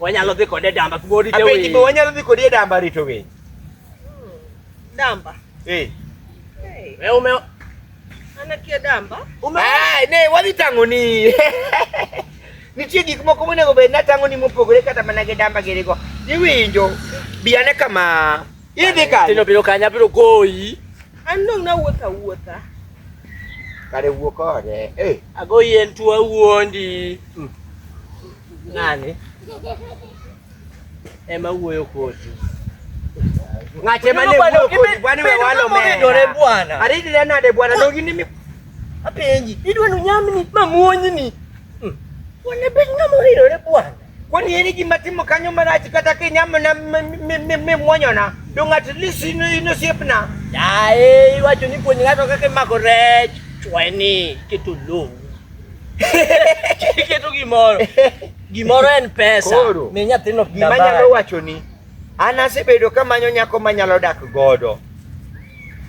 Wanyalo dhi kode damba kuma orite winy. Apenji be wanyalo dhi kode damba rito winy. Hmm. Damba. Eh. Hey. Wewe ume anakia damba? Ume. Ah, ne wadhi tang'oni. Nitie gik moko monego bed natang'oni mopogore kata mana gi damba girigo. Iwinjo. Bi ane kama. Idhi kanye. Tino biro kanye abiro goyi. An dong' nawuotho awuotha. Kare wuo kode. Eh. Agoyi en tuo wuondi. Mm. Ng'ani ema wuoyo kodi. Ng'ate mane wuoyo kodi bwana we walo mena. Bwana. Aridi le nade bwana dogi ni mi. Apenji. Idwa nu nyamni mamuonyi ni. Hmm. Bwana ben ngamo ridore bwana. Kwani yeni gima timo kanyo marach kata kinyamo na me mwonyona. Dong at least ino ino siepna. Yae, iwacho ni puonj ng'ato kaka imako rech. Chweni kitulungu. Keto gimoro. Gimoro en pesa. Koro. Mi nyathino pina Gima nyalo baya. wacho ni an asebedo ka manyo nyako manyalo dak godo.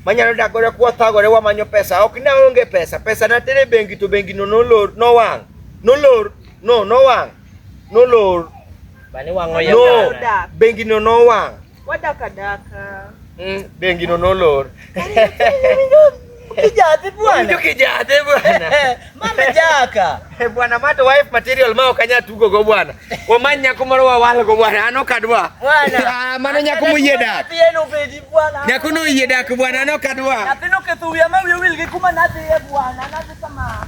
Manyalo dak godo kwa thagore wamanyo pesa. Ok na onge pesa. Pesa na tere bengi to bengi no nolor nowang'. Nolor no nowang'. Nolor Bani wang'o no yadana. bengi no nowang'. Wadaka daka. Mm, bengi no nolor. Kijate bwana. Ndio kijate bwana. Mama jaka. Eh, bwana mato wife material mao kanya tugo go bwana. Wamanya kumaro wa wal go bwana. Ano kadwa. Bwana. Ah, mano nyako muyeda. Pieno pedi bwana. Nyako no yeda ku bwana ano kadwa. Napino kethuya mawi wil gi kuma nadhi e bwana. Nadhi kama.